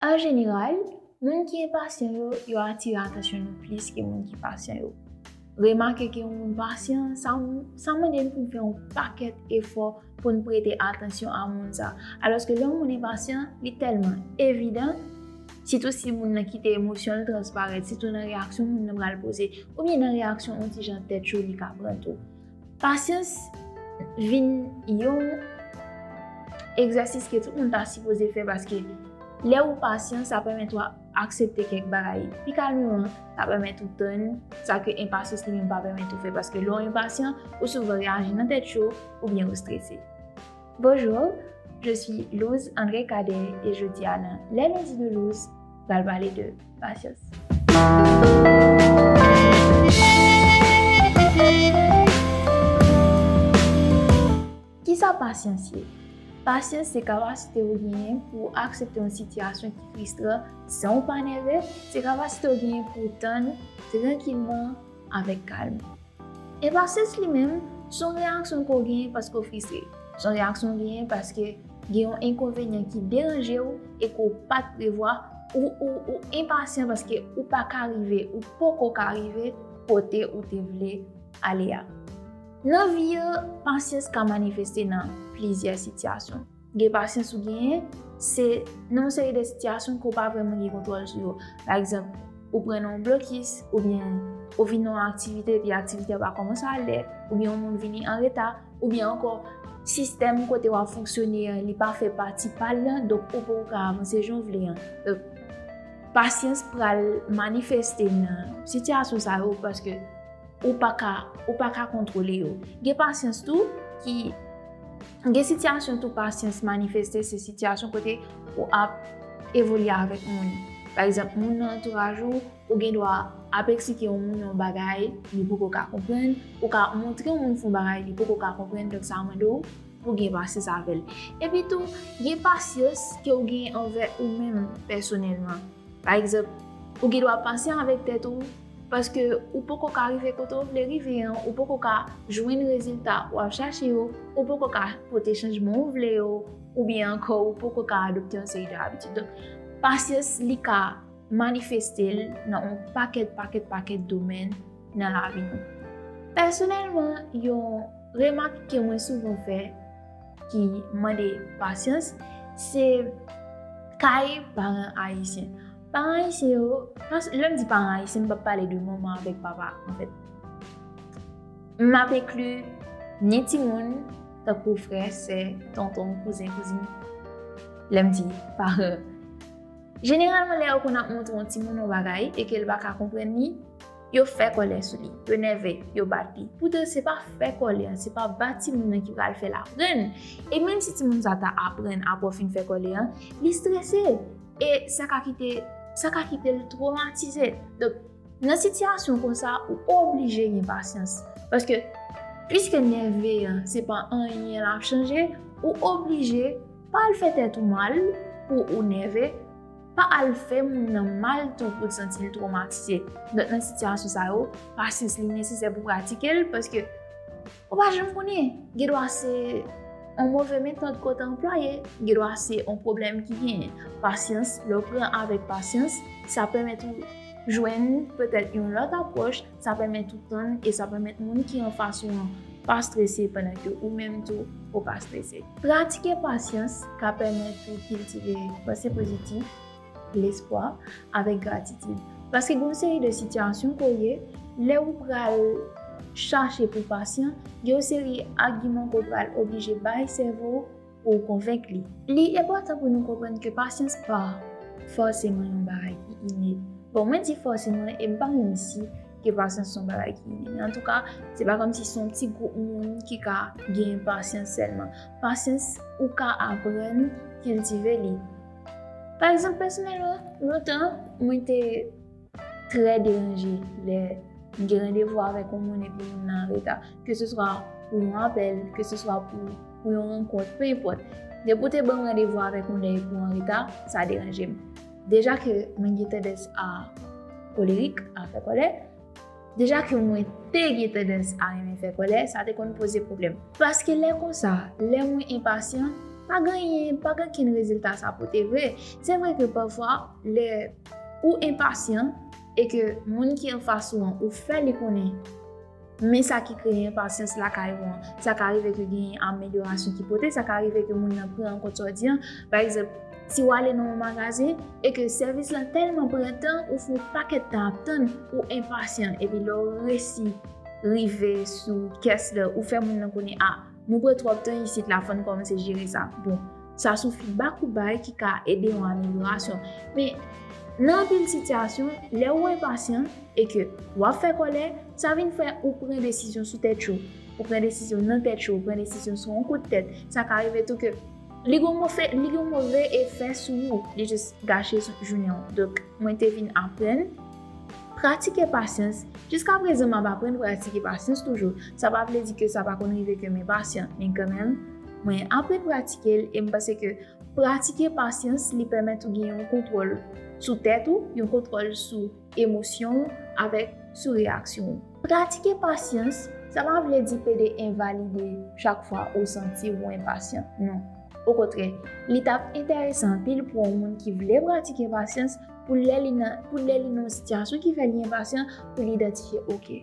An jeneral, moun ki enpasyan yo, yo atire atansyon nou plis ke moun ki pasyan yo. Remake ke yon moun pasyan, sa mande n pou n fè yon pakèt efò pou n prete atansyon a moun sa a. Alòske lè yon moun enpasyan, li tèlman evidan, sitou si moun nan kite emosyon l transparèt, sitou nan reyaksyon moun nan pral poze, oubyen nan reyaksyon yon ti jan tèt cho li ka pran tou. Pasyans vin yon egzèsis ke tout moun ta sipoze fè paske lè ou pasyan sa pèmèt ou aksepte kèk bagay. Pi kalm ou an, sa pèmèt ou tann, sa ke enpasyans li menm pa pèmèt ou fè paske lè ou enpasyan, ou souvan reyaji nan tèt cho oubyen ou strese. Bonjour, je suis Louse André Cadet et jodi a nan Les Lundis de Louse, pral pale de pasyans. Kisa pasyans ye? Pasyans se kapasite ou genyen pou ou aksepte yon sitiyasyon ki fristran san ou pa nève, se kapasite ou genyen pou ou tann trankilman avèk kalm. Enpasans li menm, s on reyaksyon ke w genyen paske w frise. S on reyaksyon w genyen paske gen yon enkonvenyan ki deranje w e ke w pa t prevwa. Ou enpasyan paske ou pa ka rive, ou poko ka rive kote ou te vle ale a. Nan vi yo, pasyans ka manifeste nan plizyè sitiyasyon. Gen pasyans ou genyen, se nan yon seri de sitiyasyon ke w pa vreman gen kontwòl sou yo. Pa egzanp, ou pran nan yon blokis, oubyen ou vin nan yon aktivite epi aktivite a pa kòmanse a lè, oubyen yon moun vini an reta, oubyen ankò sistèm kote w ap fonksyone an li pa fè pati pa l lan, donk ou poko ka avanse jan w vle an. Donk, pasyans pral manifeste nan sitiyasyon sa yo paske ou pa ka, ou pa ka kontwole yo. Gen pasyans tou ki. Gen sityasyon tou pasyans manifeste se sityasyon kote ou ap evolye avèk moun. Pa egzanp, moun nan antouraj ou, ou gen dwa ap eksplike yon moun yon bagay li poko ka konprann, ou ka montre yon moun fon bagay li poko ka konprann, donk sa mande w pou w gen pasyans avè l. Epi tou, gen pasyans ke w genyen anvè ou menm pèsonèlman. Pa egzanp, ou gen dwa pasyan avèk tèt ou, Paske ou poko ka rive kote ou vle rive an, ou poko ka jwenn rezilta ou ap chache yo, ou poko ka pote chanjman ou vle yo, oubyen ankò ou poko ka adopte yon seri de abitid. Donk, pasyans li ka manifeste l nan yon pakèt pakèt pakèt domèn nan lavi nou. Pèsonèlman, yon remak ke mwen souvan fè ki mande pasyans, se kay paran ayisyen. Paran ayisyen yo, lè m di paran ayisyen m p ap pale de manman avèk papa anfèt. M ap enkli ni timoun, tankou frè, sè, tonton, kouzen, kouzin, lè m di paran. Jeneralman lè yo konn ap montre yon timoun yon bagay e ke l pa ka konprann li, yo fè kòlè sou li, yo nève, yo bat li. Poutan se pa fè kòlè an, se pa bat timoun nan ki pral fè l aprann. E menm si timoun sa ta aprann apre w fin fè kòlè an, li strese. E sa ka kite, sa ka kite l twomatize. Donk, nan sitiyasyon kon sa, ou oblije gen pasyans. Paske, piske nève a, se pa anyen l ap chanje, ou oblije pa al fè tèt ou mal pou ou nève, pa al fè moun nan mal tou pou l santi l twomatize. Donk, nan sitiyasyon sa yo, pasyans li nesesè pou w pratike l, paske. Ou pa janm konnen, gen dwa se yon move metòd ke w te anplwaye, gen dwa se yon pwoblèm ki gen pasyans, lè w pran avèk pasyans, sa pèmèt ou jwenn petèt yon lòt apwòch, sa pèmèt ou tann e sa pèmèt moun ki anfas ou an pa strese pandan ke ou menm tou ou pa strese. Pratike pasyans ka pèmèt ou kiltive panse pozitif, lespwa, avèk gratitid. Paske gen yon seri de sitiyasyon ke w ye, lè ou pral chache pou w pasyan, gen yon seri agiman ke w pral oblije bay sèvo w pou w konvenk li. Li enpòtan pou nou konprann ke pasyans pa fòseman yon bagay ki ine. Bon, mwen di fòseman e m pa menm si ke pasyans se yon bagay ki ine. Men antouka, se pa kòmsi se yon ti gwoup moun ki ka genyen pasyans sèlman. Pasyans, ou ka aprann kiltive li. Pa egzanp pèsonèlman, lontan mwen te trè deranje lè m gen randevou avèk yon moun epi moun nan anreta. Ke se swa pou yon apèl, ke se swa pou yon rankont, pe enpòt. Depi ou te ban m randevou avèk yon lè epi w anreta, sa deranje m. Deja ke mwen gen tandans a kolerik, a fè kòlè. Deja ke mwen te gen tandans a renmen fè kòlè, sa te konn poze pwoblèm. Paske lè konsa, lè mwen enpasyan, pa gen anyen, pa gen okenn rezilta sa pote vre. Se vre ke pafwa, lè ou enpasyan, e ke moun ki anfas ou an, ou fè li konnen, men sa ki kreye enpasyans lakay ou an, sa ka rive ke genyen amelyorasyon ki pote, sa ka rive ke moun nan pran an kont sa w di an. Pa egzanp. Si w ale nan yon magazen e ke sèvis la tèlman pran tan, ou fè yon pakèt tan ap tann, ou enpasyan epi lè w resi rive sou kès la, ou fè moun nan konnen a, nou pran twòp tan isit la fò n kòmanse jere sa. Bon, sa son fidbak ou bay ki ka ede yon amelyorasyon. Men, nan anpil sitiyasyon, lè ou enpasyan e ke w ap fè kòlè, sa vin fè ou pran desizyon sou tèt yo, ou pran desizyon nan tèt yo, ou pran desizyon sou yon kout tèt. Sa ka rive tou ke Li gon mofe, li gon move efè sou ou, li jis gache jounen ou. Donk, mwen te vin aprann pratike pasyans. Jiska prezan m ap aprann pratike pasyans toujou. Sa pa vle di ke sa pa konn rive ke m enpasyan, men kanmenm, mwen aprann pratike l e m panse ke pratike pasyans li pèmèt ou gen yon kontwòl sou tèt ou, yon kontwòl sou. emosyon ou avèk sou reyaksyon ou. Pratike pasyans, sa pa vle di pede envalide chak fwa ou santi ou enpasyan, non. Okontrè, li t ap enteresan anpil pou yon moun ki vle pratike pasyans pou lè li nan yon sitiyasyon ki fè li enpasyan, pou li idantifye, 'Oke.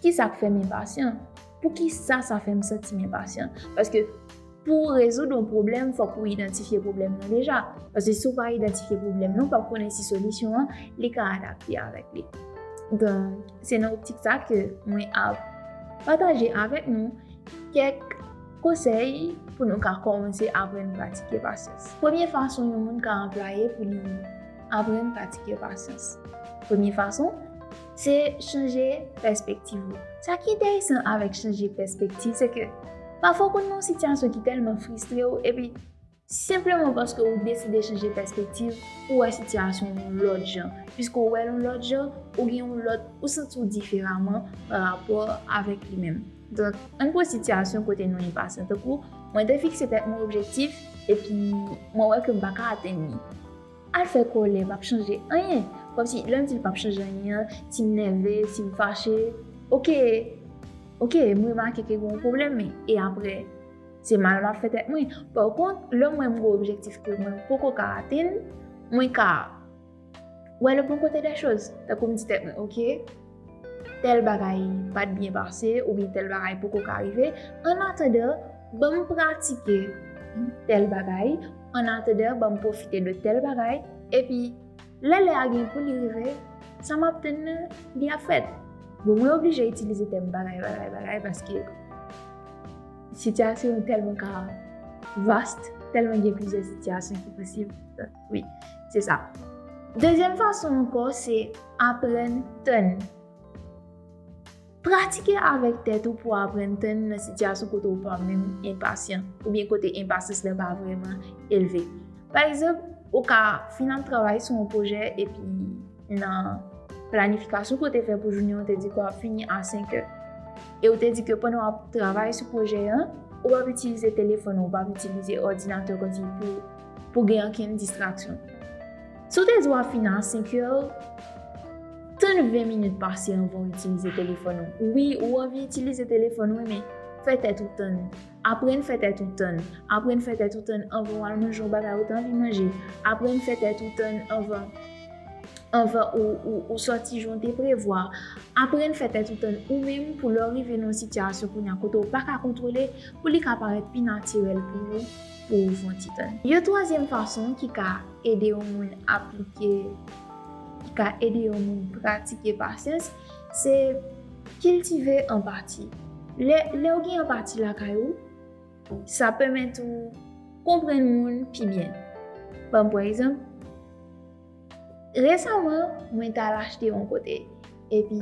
Ki sa k fè m enpasyan? Poukisa sa fè m santi m enpasyan? Paske pou w rezoud yon pwoblèm, fòk ou idantifye pwoblèm nan deja. Paske si w pa idantifye pwoblèm nan, w p ap konnen si solisyon an li ka adapte avèk li. Donk, se nan optik sa ke mwen ap pataje avèk nou kèk konsèy pou nou ka kòmanse aprann pratike pasyans. Premye fason yon moun ka anplwaye pou li aprann pratike pasyans. Premye fason. Se chanje pèspektiv ou. Sa ki enteresan avèk chanje pèspektiv se ke pafwa ou konn nan yon sitiyasyon ki tèlman fristre ou epi senpleman paske ou deside chanje pèspektiv ou wè sitiyasyon an yon lòt jan. Piske ou wè l yon lòt jan, ou gen yon lòt, ou santi w diferaman pa rapò avèk li menm. Donk, ann pran sitiyasyon kote nou enpasyan. Tankou, mwen te fikse tèt mwen objektif epi mwen wè ke m pa ka atenn li. Al fè kòlè pap chanje anyen. Kòmsi lèm dil pap chanje anyen an sim nève sim fache ok ok m remake ke gen yon pwoblèm men e aprè se mal map fè tèt mwen pa kont lèm wèm gen objektif ke mwen poko ka atenn mwen ka wè le bon kote dè choz tankou m di tèt mwen ok. tèl bagay pat byen pase oubyen tèl bagay poko ka rive annatandan banm pratike tèl bagay annatandan banm pwofite de tèl bagay epi lè lè a gen pou li rive sa map tann nan li ap fèt bon mwen oblije itilize tèm bagay bagay bagay paske sitiyasyon tèlman ka vast tèlman gen plizyè sitiyasyon ki posib. Wi, se sa. Dezyèm fason ankò se aprann tann. Pratike avèk tèt ou pou aprann tann nan sitiyasyon kote ou pa menm enpasyan oubyen kote enpasyans la pa vrèman elve. Pa egzanp, ou ka fin ap travay sou yon pwojè epi nan planifikasyon ke w te fè pou jounen an, ou te di ke w ap fini a senkè. E ou te di ke pandan w ap travay sou pwojè an, ou pa p itilize telefòn ou, ou pa p itilize òdinatè w kontinye pou pou gen ankenn distraksyon. Si w te di w ap fini a 5 è, tann 20 minit pase anvan w itilize telefòn ou. Wi, ou anvi itilize telefòn ou, men fè tèt ou tann. Aprann fè tèt ou tann. Aprann fè tèt ou tann anvan w al manje yon bagay ou te anvi manje. Aprann fè tèt ou tann anvan ou soti jan w te prevwa. Aprann fè tèt ou tann ou menm pou lè w rive nan yon sitiyasyon kounye a kote w pa ka kontwole, pou li ka parèt pi natirèl pou ou. pou ou fon ti tann. Yon twazyèm fason ki ka ede yon moun aplike, ki ka ede yon moun pratike pasyans, se kiltive anpati. Lè ou gen anpati lakay ou, sa pèmèt ou konprann moun pi byen. Banm pran egzanp. Resaman, mwen t al achte yon kote. Epi,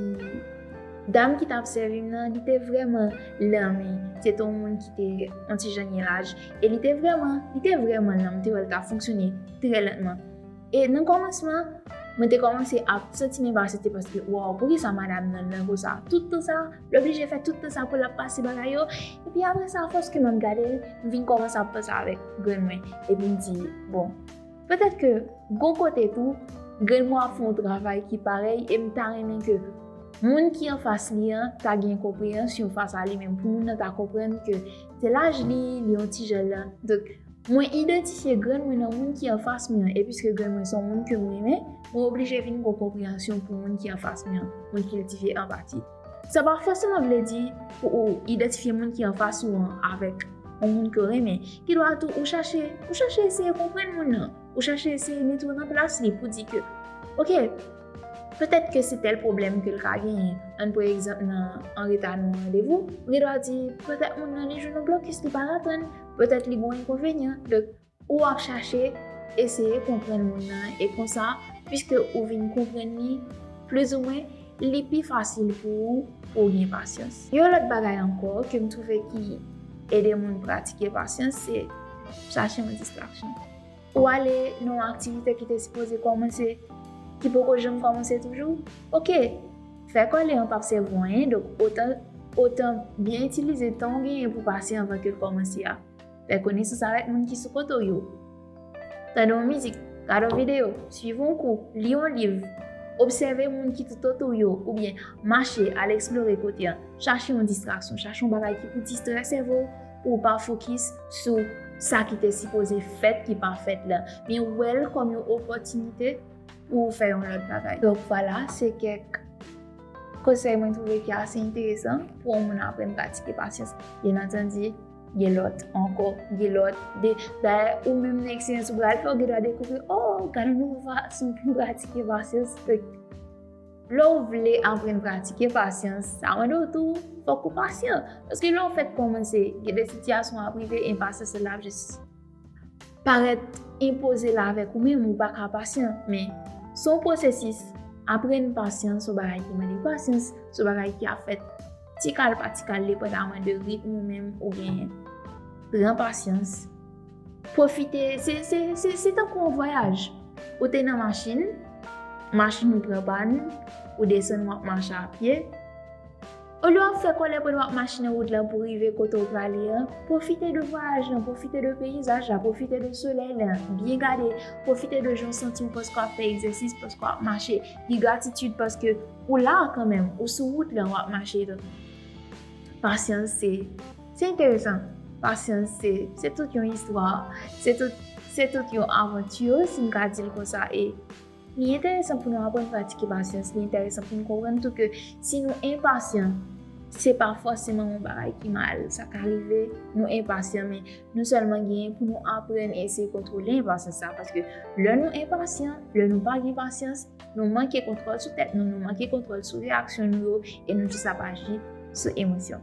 dam ki t ap sèvi m nan, li te vrèman lanme. Se te yon moun ki te yon ti jan gen laj. E li te vrèman, li te vrèman lanm. Mwen te wè l t ap fonksyone trè lantman. E nan kòmansman, mwen te kòmanse ap santi m enpasyante paske, waw, poukisa madam nan lan konsa? Tout tan sa a? L oblije fè tout tan sa a pou l ap pase bagay yo? Epi apre sa, fòske m ap gade l, m vin kòmanse ap panse avèk grann mwen. Epi m di, bon. Petèt ke gon kote tou, grenn mwen ap fè yon travay ki parèy e m ta renmen ke moun ki anfas li an ta gen konpreyansyon fas a li menm, pou moun nan ta konprann ke se laj li, li yon ti jèn lan. Donk, mwen idantifye grenn mwen nan moun ki anfas mwen an e piske grenn mwen se yon moun ke m renmen, mwen oblije vin gen yon konpreyansyon pou moun ki anfas mwen an. Mwen kiltive anpati. Sa pa fòseman vle di pou ou idantifye moun ki anfas ou an avèk yon moun ke w renmen, kidwa tou ou chache, ou chache eseye konprann moun nan, ou chache eseye mete w nan plas li pou di ke, ok, petèt ke se tèl pwoblèm ke l ka genyen, ann pran egzanp nan anreta nan yon randevou, ou gendwa di, petèt moun nan li jwenn yon blokis li pa ka tann, petèt li gen yon enkonvenyan, donk. Ou ap chache eseye konprann moun nan e konsa, piske ou vin konprann li plizoumwen, li pi fasil pou ou pou w gen pasyans. Yon lòt bagay ankò ke m twouve ki ede moun pratike pasyans se chache yon distraksyon. Ou ale nan yon aktivite ki te sipoze kòmanse, ki poko janm kòmanse toujou? Oke! Fè kòlè an p ap sèvi w anyen, donk otan byen itilize tan w genyen pou pase anvan ke l kòmanse a. Fè konesans avèk moun ki sou kote w yo. Tande yon mizik, gade yon videyo, suiv yon kou, li yon liv, obsève moun ki toutotou w yo oubyen mache al eksplore kote an. Chache yon distraksyon, chache yon bagay ki pou distrè sèvo w pou w pa fokis sou sa ki te sipoze fèt ki pa fèt la. Men wè l kòm yon opòtinite pou w fè yon lòt bagay. Donk vwala, se kèk konsèy mwen twouve ki ase enteresan pou yon moun aprann pratike pasyans. Byennantandi. Gen lòt ankò, gen lòt. Dayè, ou menm nan eksperyans ou pral fè, ou gen dwa dekouvri, o, gade yon nouvo fason pou m pratike pasyans. Lè ou vle aprann pratike pasyans, sa mande ou tou, fòk ou pasyan. Paske lè ou fèk kòmanse, gen de sitiyasyon ap rive, enpasyans la ap jis. parèt enpoze la avèk ou menm ou pa ka pasyan men son pwosesis aprenn pasyan son bagay ki mande pasyan son bagay ki ap fèt ti kal pa ti kal depan da mande ritm ou menm ou genyen pran pasyan pwofite se se se se tan kon vwayaj ou te nan machin machin ou pran pa nou ou desen wap mache apye Olye w ap fè kòlè pandan w ap mache nan wout lan pou w rive kote w prale an, pwofite de vwayaj lan, pwofite de peyizaj la, pwofite de solèy la, byen gade, pwofite de jan w santi w paske w ap fè egzèsis, paske w ap mache, gen gratitid paske ou la a kanmenm, ou sou wout lan, w ap mache. Pasyans se, se enteresan, pasyans se, se tout yon istwa, se tout, se tout yon avanti si m ka di l konsa e. Li enteresan pou nou aprann pratike pasyans. Li enteresan pou nou konprann tou ke si nou enpasyan, se pa fòseman yon bagay ki mal. Sa ka rive nou enpasyan, men nou sèlman genyen pou nou aprann eseye kontwole enpasyans sa a. Paske lè nou enpasyan, lè nou pa gen pasyans, nou manke kontwòl sou tèt nou, nou manke kontwòl sou reyaksyon nou yo e nou jis ap aji sou emosyon.